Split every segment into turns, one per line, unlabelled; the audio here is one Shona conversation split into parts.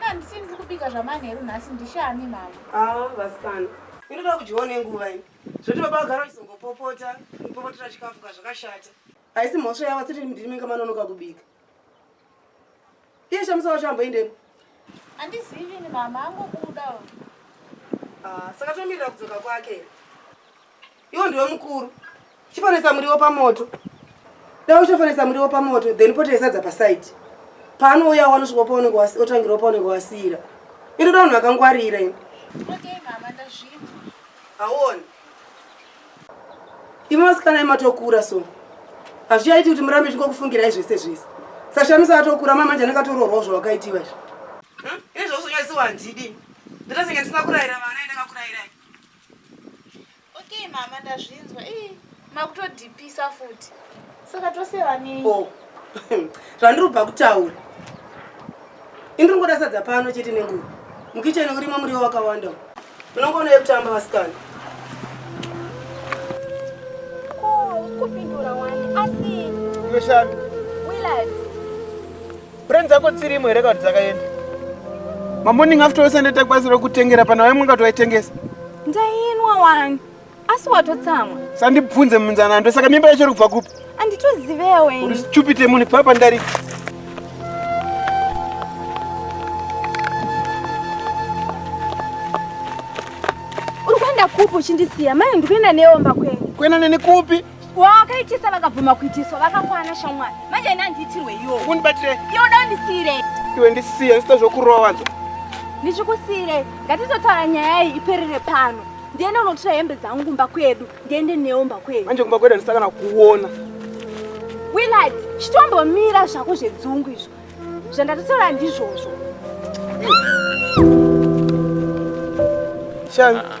Handisi ndiri kubika zvamanheru nhasi ndishami mama. Ah, vasikana. Inoda kudyiwa nenguva ini. Zvoti baba vagara vachizongopopota, kupopotera chikafu kazvakashata. Haisi mhosva yavo siti ndimi inga manonoka kubika. Iye shamisa wacho amboendepo. Handizivi ini mama angobuda. Ah, saka tomirira kudzoka kwake. Iwo ndiwe mukuru. Chifanisa muriwo pamoto. Dai uchifanisa muriwo pamoto then pote sadza paside. Paanouya wanosvika paunenge wasiira paunenge wasiira. Inoda vanhu vakangwarira ini. Okay mama ndazvinzwa. Hauoni. Imwe vasikana imatokura so. Hazvichaiti kuti murambe chingokufungirai zvese zvese. Sashamisa atokura mama manje anakatoroorwa zvawakaitiwa izvi. Hm? Izvozvo nyasi wandidi. Ndatosinge ndisina kurayira vana ende kakurayirai. Okay mama ndazvinzwa. Eh, makutodipisa futi. Saka tose vanei? Oh. Zvandiri kubva kutaura. Indiri ngoda sadza pano chete nenguva. Mukicheni urimo muriwo wakawanda. Unongoona yekutamba vasikana. Oh, kupindura wani. Asi. Weshanu. Willard. Brain dzako dzirimo here kana dzakaenda? Mamoning after ose ndaita kwazi rokutengera pana wai mwaka twaitengesa. Ndainwa wani. Asi watotsamwa. Sandibvunze munzana ndo saka mimba yacho iri kubva kupi? Anditozivewo ini. Uri stupid munhu kubva pandari. Uri kuenda kupi uchindisiya? Mai ndikuenda neomba kwenyu. Kuenda neni kupi? wakaitisa vakabvuma kuitiswa vakakwana shamwari manje ini handiitirwe iwo undibatire iwo da undisiire iwe ndisiye ndisita zvokurova nzo ndichikusiire ngatitotaura nyaya iyi iperere pano ndiende unotora hembe dzangu kumba kwedu ndiende neumba kwedu manje kumba kwedu handisakana kuona willard chitombomira zvako zvedzungu izvo zvandatotaura ndizvozvo shami ah, ah.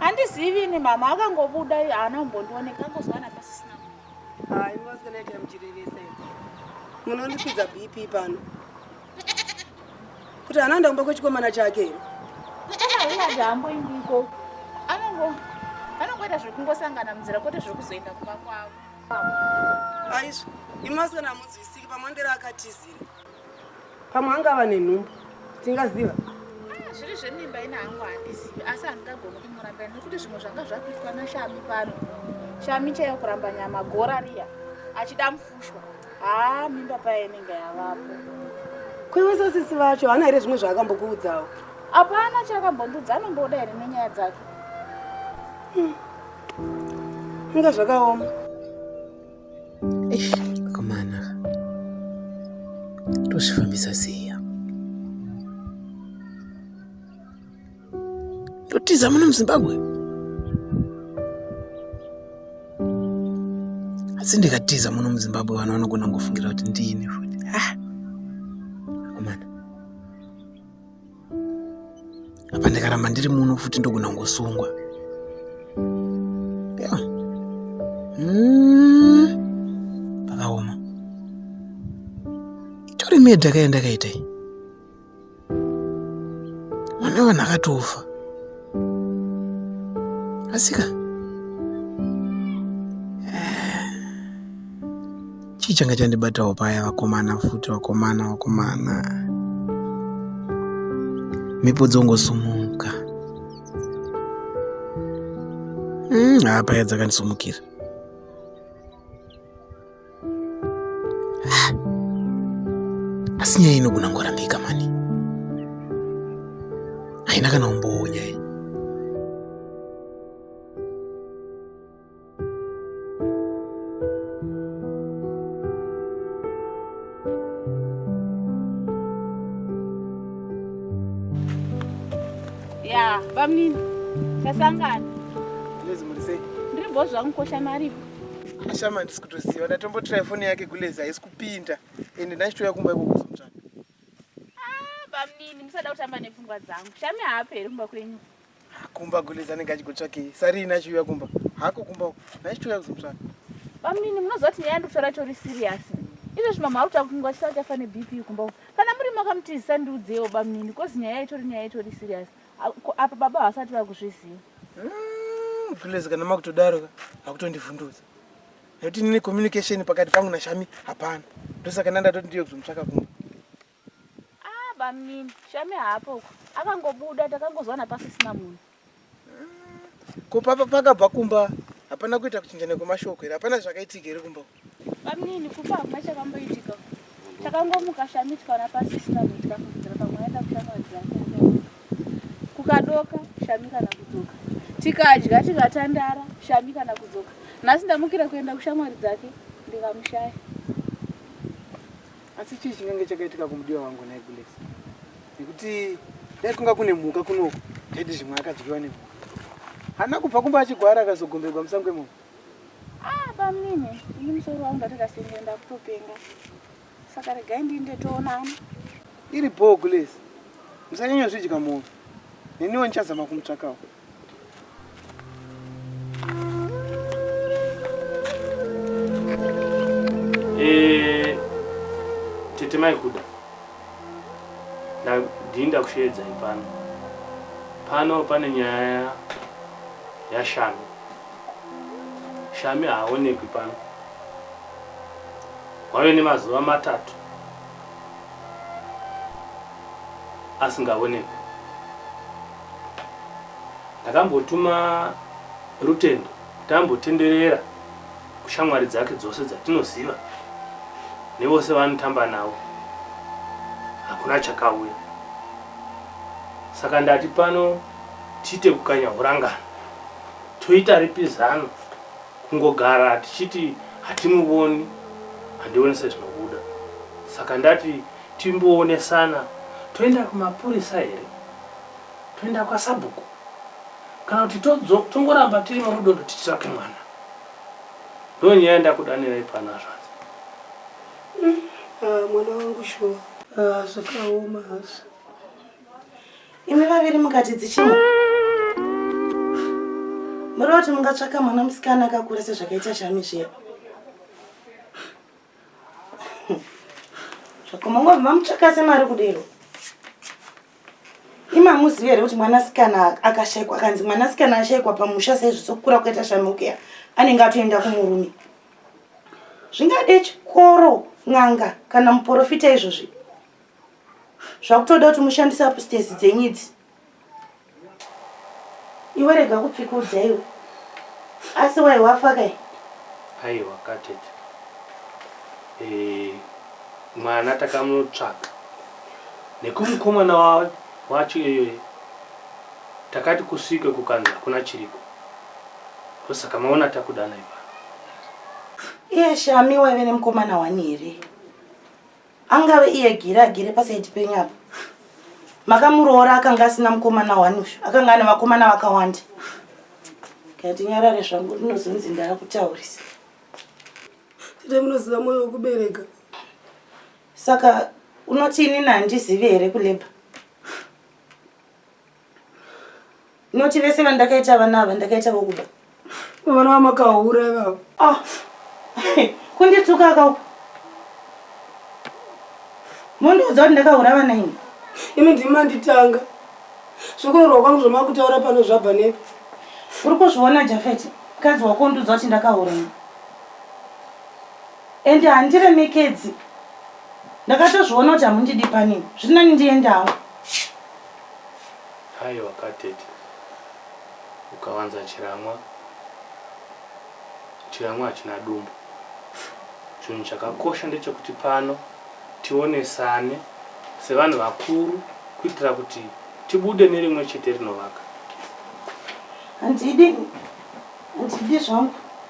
handizivi ini mama akangobuda haana kumbondioneka angozwana pasisina munondipidza bp pano kuti haana ndaumba kwechikomana chake here anongoita zvekungosangana munzira kwete zvekuzoenda kumba kwavo aizvo imasikana hamunzwisiki pamwe ndera akatizira pamwe angava nenhumbu tingaziva ah, zviri zvemimba ina hangu handizivi asi handingagoni kumurambira nekuti zvimwe zvanga zvakuitwa nashami pano shami chaiyo kuramba nyama gora riya achida mufushwa haa ah, mimba paye inenge yavapo kweweso sisi vacho hana here zvimwe zvaakambokuudzawo hapana chaakambondiudza anomboda here nenyaya dzake hmm. Inga zvakaoma. Eish, akomana. Tozvifambisa sei? Totiza muno muZimbabwe. Asi ndikatiza muno muZimbabwe vanhu vanogona kungofungira kuti ndini futi. Ah. Akomana. apa ndikaramba ndiri muno futi ndogona kungosungwa hmm. pakaoma itori medha kaye ndakaita iyi mwana wevanhu akatofa asika chii changa chandibatawo paya vakomana futi vakomana vakomana mhepo dzongosumuka hmm, haa mm, paya dzakandisumukira asi nyaya inogona ngorambika mani haina kana umbowo nyaya ya bamnini tasangana lezi muri sei ndiri bho zvangu kosha maripo ashama ndisi kutoziva ndatombotirai foni yake kulezi haisi kupinda ende ndachitouya kumba ikokuzomutsvaka ah, bamnini musada kutamba nepfungwa dzangu shami haaperi kumba kwenyu Kumba kule zanenge achikutsvakei. Sari ina chiuya kumba. Hako kumba. Nai chiuya kuzomutsvaka. Bamnini munozoti nyaya ndikutora chori serious. Izvo zvimama ari kutaura kuti munhu wachitaura chafa ne BP kumba. Kana muri makamutizisa ndiudzewo bamnini kozi nyaya itori nyaya itori serious. Apa baba havasati vakuzviziva. Mm, Gulezi kana makutodaro ka hakutondivhundudza. Nekuti nini communication pakati pangu na Shami hapana. Ndosaka ndandatoti ndiyo kuzomutsvaka kumba. Ah, bamnini shame hapo uko akangobuda takangozwana pasisina munhu ko papa pakabva kumba hapana kuita kuchinja nekwemashoko here hapana zvakaitika here kumba uko? bamnini kupa hakuna chakamboitika takangomuka shame tikaona pasisina munhu tikafungidzira pamwe aenda kushamwari dzake kukadoka shame kana kudzoka tikadya tikatandara shame kana kudzoka nhasi ndamukira kuenda kushamwari dzake ndikamushaya Asi chii chingange chakaitika kumudiwa wangu nhai Gulesi? Nekuti dai kunga kune mhuka kunoku taiti zvimwe akadyiwa nemhuka. Haana kubva kumba achigwara akazogomberwa musango imomo. Ah, bamnini, ini musoro wangu ndatakasenge ndakutopenga. Saka regai ndiinde toonana. Iri bhoo Gulesi. Musanyanya zvidya mhofu. Neniwo ndichazama kumutsvakawo. Eh, tete maikuda ndii ndakusheedzai pano pano pane nyaya yashami shami haaonekwi pano wave nemazuva matatu asingaonekwi Ndakambotuma Rutendo kuti ambotenderera kushamwari dzake dzose dzatinoziva nevose vanotamba navo. Hakuna chakauya. Saka ndati pano tiite kukanya hurangano. Toita ripi zano kungogara tichiti hatimuvoni handione sezvinobuda. Saka ndati timboonesana toenda kumapurisa here. toenda kwasabhuku kana kuti tongoramba tiri murudodo titsvake mwana ndo nyaya ndakudanirai pano hazvanzi mm, ah, mwana wangu shuwa ah, zvakaoma hazvo imi vaviri mukati dzichina muri kuti mungatsvaka mwana musikana akakura sezvakaita shami zviya zvakomangwa mamutsvakase mari kudero imamuzivi here kuti mwanasikana akashaikwa akanzi mwanasikana ashaikwa pamusha saizvo sokukura kukaita shamukeya anenge atoenda kumurume zvingade chikoro n'anga kana muporofita izvozvi zvakutoda kuti mushandise apustesi dzenyidzi iwe rega kupfikudza iwe asi wai wafa kai aiwa katete eh, mwana takamutsvaka nekumukomana wacho iyoyo takati kusvike kukanzi hakuna chiriko ndosaka maona takudanai pano iye shami waive nemukomana wani here angave iye giri agere pasaiti penyu apo makamuroora akanga asina mukomana wani uyu akanga ane vakomana vakawanda kati nyarare zvangu ndinozonzi ndava kutaurisa tete munoziva mwoyo wekubereka saka unoti inini handizivi here kuleba Noti vese vandakaita vana ava ndakaita vokuda. Vana vamakahura ivavo. Ah. Kundituka akau. Mundiudza kuti ndakahura vana ini. Imi ndimi manditanga. Zvokunorwa kwangu zvamakutaura pano zvabva nepi? Uri kuzviona Jafeti? Mukadzi wako undiudza kuti ndakahura ini. Ende handiremekedzi. Ndakatozviona kuti hamundidi panini. Zviri nani ndiendawo. Aiwa ka tete ukawanza chiramwa chiramwa hachina dumbu chinhu chakakosha ndechekuti pano tionesane sevanhu vakuru kuitira kuti tibude nerimwe chete rinovaka handidi handidi zvangu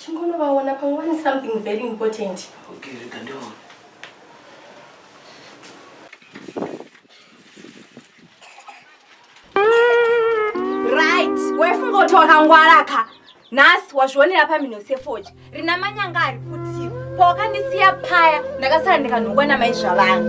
chingonovaona pamwe vane something very important okay rega ndivaona right waifunga kuti wakangwara ka nhasi wazvionera pamhino sefoja rina manyanga ari kuti pawakandisiya paya ndakasara ndikanhongwa namai zvavanhu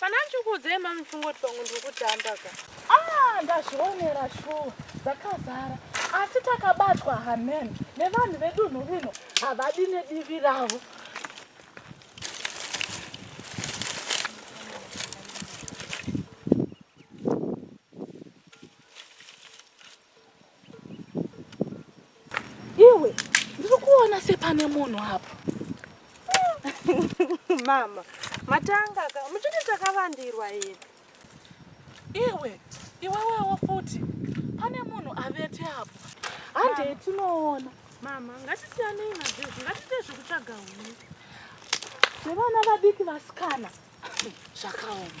Kana ndikuudzei mami mfungoti pamwe ndiri kutamba ka. Ah, ndazvionera shuwa dzakazara asi takabatwa hamen nevanhu vedunhu rino havadi nedivi ravo. Iwe ndiri kuona sepane munhu apo. Mama, matanga ka, muchiti takavandirwa here? Iwe, iwewewo futi, pane munhu avete apo. Handei tinoona. Mama, ngatisiyanei nazvezvi, ngatiite zvekutsvaga huni. Zvevana vadiki vasikana zvakaoma.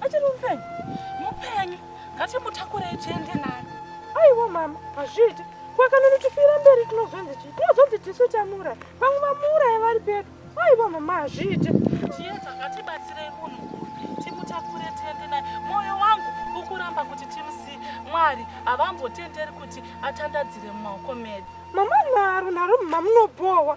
Achiri mupenyu. Mupenyu. Ngatimutakurei tiende naye. Aiwa mama, hazviiti. Kwakanoni tifira mberi tinozonzi chii? Tinozonzi tisu tamura. Pamwe vamuuraya vari pedu. Aiwa mama, hazviiti. Chiedza ngatibatsirei munhu uyu. Timutakure tiende naye. Moyo wangu ukuramba kuti timusiye. Mwari havambotenderi kuti atandadzire mumaoko medu. Mama nharo nharo mamunobhowa.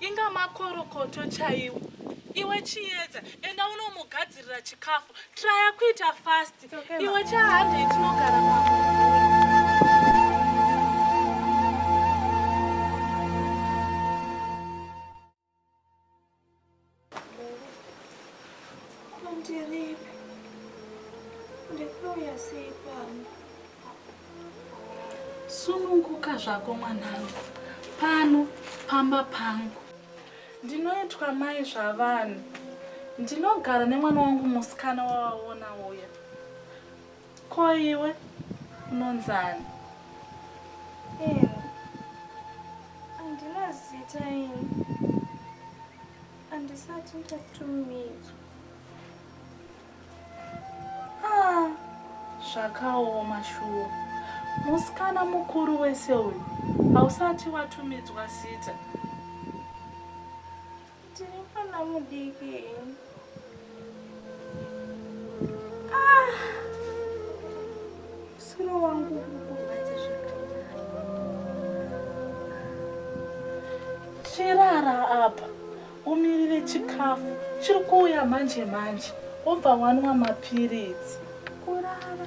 inga makorokoto chaiwo iwe chiyedza enda unomugadzirira chikafu traya kuita fast iwe chahande itinogara Ndiripi? Ndikuuya sei pano? Sununguka zvako mwanangu. Pano pamba pangu. Ndinoitwa mai zvavanhu. Ndinogara nemwana wangu musikana wawaona uya. Ko iwe unonzani? Ini andina zita ini. Andisati ndatumidzwa. Ah, zvakaoma shuwa. Musikana mukuru wese uyu hausati watumidzwa zita. Tiri pana mudiki. Ah! Suro wangu kukubatsa zvakanaka. Chirara apa. Umirire chikafu. Chiri kuuya manje manje. Obva wanwa mapiritsi. Kurara.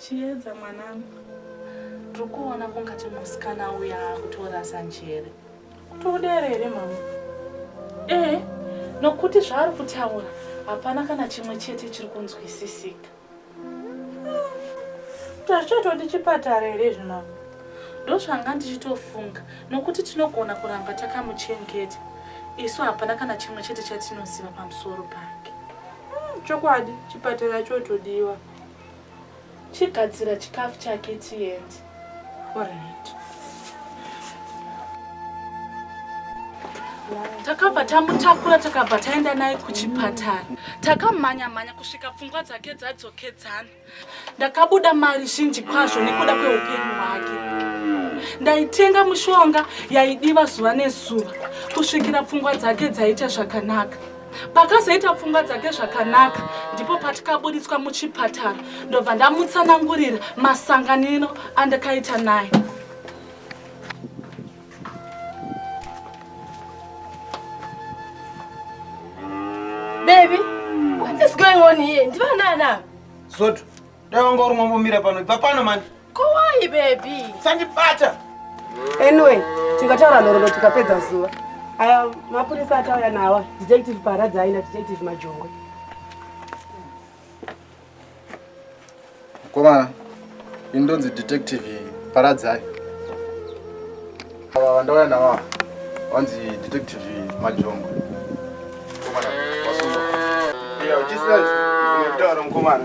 Chiedza mwanangu, tiri kuona kungati musikana uya akutorasa njere. Kutodera here mama? Ee, nokuti zvaari kutaura hapana kana chimwe chete chiri kunzwisisika. Tachito ndichipatara here zvino? Ndozvanga ndichitofunga nokuti tinogona kuramba takamuchengeta. Isu hapana kana chimwe chete chatinoziva pamusoro pake. Hmm, chokwadi chipatara chotodiwa. chigadzira chikafu chake tiende orit takabva tamutakura takabva taenda naye kuchipatara takamhanya mhanya kusvika pfungwa dzake dzadzokedzana ndakabuda mari zhinji kwazvo nekuda kweupenyu hwake ndaitenga mushonga yaidiva zuva nezuva kusvikira pfungwa dzake dzaita zvakanaka pakazoita pfungwa dzake zvakanaka ndipo patikaburitswa muchipatara ndobva ndamutsanangurira masanganino andakaita naye baby what is going on here ndivanaana soto dai wanga uri ngombomira pano ibva pano mani Kowai baby. Sandibata. Anyway, tingataura nhoroondo tikapedza zuva. Aya mapurisa atauya nawa, detective Paradza aina detective Majongwe. Komana, ini ndonzi detective Paradzai. Ava vandauya navo vanzi detective Majongo. Komana wasungwa. Iya uchisina zvinotaura mukomana.